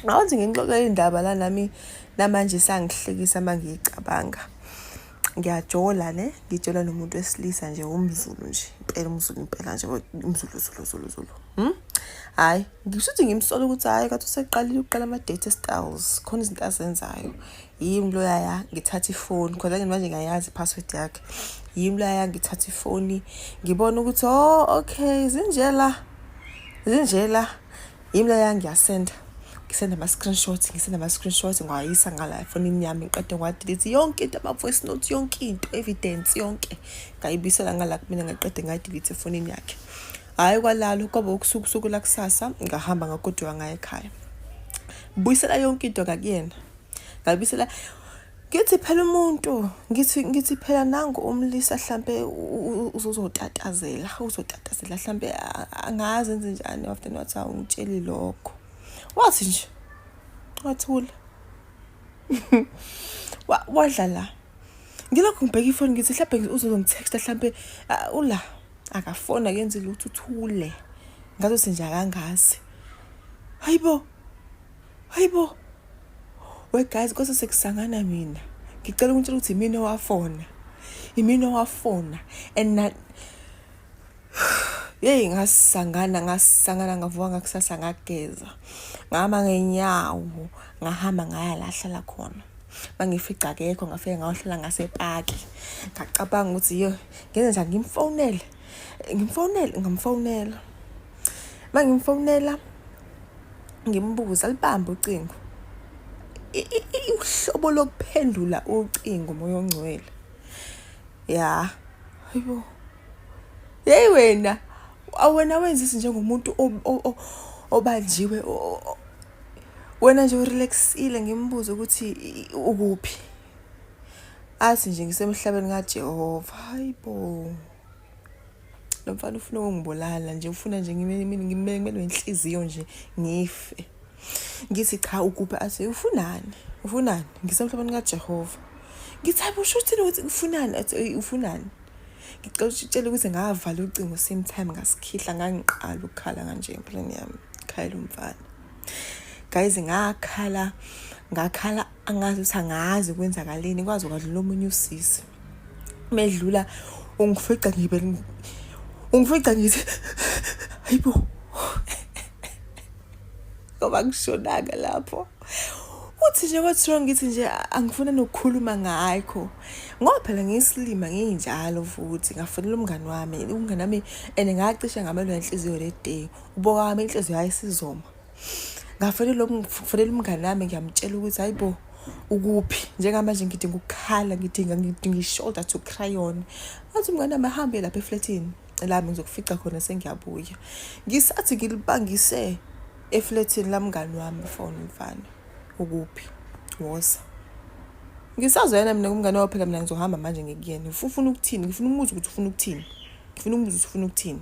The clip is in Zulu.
Awuthi ngixoxe indaba la nami namanje sangihlekisa uma ngiyicabanga. Ngiyajola ne ngijola nomuntu wesilisa nje umzulu nje impela umzulu impela nje umzulu zulu zulu zulu. Hmm? Hayi ngisho ukuthi ngimsola ukuthi hayi kathi useqalile uqala ama date styles khona izinto azenzayo. Yimi lo yaya ngithatha ifoni khona ke manje ngiyayazi password yakhe. Yimi lo yaya ngithatha ifoni ngibona ukuthi oh okay zinjela zinjela yimi leya ngiyasenda ngisenda ama-screenshot ngisenda ama-screenshot ngiwayisa ngala efonini yami ngiqede ngiwadilithi yonke into ama-voice note yonke into evidence yonke ngayibuyisela ngala kumina ngaqede ngayidilithi efonini yakhe hhayi kwalalo kwaba ukusuku usuku lakusasa ngahamba ngagoduka ngaye ekhaya buyisela yonke into kakuyena ngabuyisela Ngithi phela umuntu ngithi ngithi phela nangu umlisa hlampe uzozotatazela uzotatazela hlampe angazi enze njani wafter wathi awungitsheli lokho wathi nje wathula wadla la ngilokhu ngibheka ifoni ngithi hlampe uzozongitexta hlampe ula akafoni akenzi lutho uthule ngazothi nje akangazi hayibo hayibo we guys kodwa sekusangana mina ngicela ukungitshela ukuthi imina owafona imina owafona and na yeyi ngasangana ngasangana ngavuka ngakusasa ngageza ngahamba ngenyawo ngahamba ngaya lahlala khona mangifica akekho ngafike ngayohlala ngasepaki ngacabanga ukuthi yo ngenze njani ngimfonele ngimfonele ngamfonela mangimfonela ngimbuze alibambe ucingo uhlobo lokuphendula ucingo moya ongcwele ya ayibo yeyi wena awena wenza izinto njengomuntu obanjiwe wena nje urelaxile ngimbuze ukuthi ukuphi athi nje ngisemhlabeni kajehova hayibo lo mfana ufuna ukungibulala nje ufuna nje ngimelwe inhliziyo nje ngife ngithi cha ukuphi athi ufunani ufunani ngisemhlabeni kajehova ngithi hayi usho uthini ukuthi ufunani athi ufunani ngicela utshele ukuthi ngavala ucingo same time ngasikhihla ngangiqala ukukhala kanje empilweni yami khayela umfana guys ngakhala ngakhala angazi ukuthi angazi kwenzakaleni kwazi kwadlula omunye usisi medlula ungifica ngibe ungifica ngithi hayibo ngoba ngishonaka lapho uthi nje what's wrong ngithi nje angifuna nokukhuluma ngakho ngoba phela ngiyisilima nginjalo futhi ngafonela umngani wami umngani wami and ngacishe ngamelwe inhliziyo le day uboka wami inhliziyo yayisizoma ngafonela ngifonela umngane wami ngiyamtshela ukuthi hayi bo ukuphi njengamanje ngidinga ukukhala ngidinga ngidinga i-shoulder to cry on athi umngane wami ahambe lapha efletini lami ngizokufica khona sengiyabuya ngisathi ngilibangise efletini lamngani wami fona umfana ukuphi woza ngisazoyena mina kumngane wawo phela mina ngizohamba manje ngikuyena ufuna ukuthini ngifuna umuzi ukuthi ufuna ukuthini ngifuna umuzi ukuthi ufuna ukuthini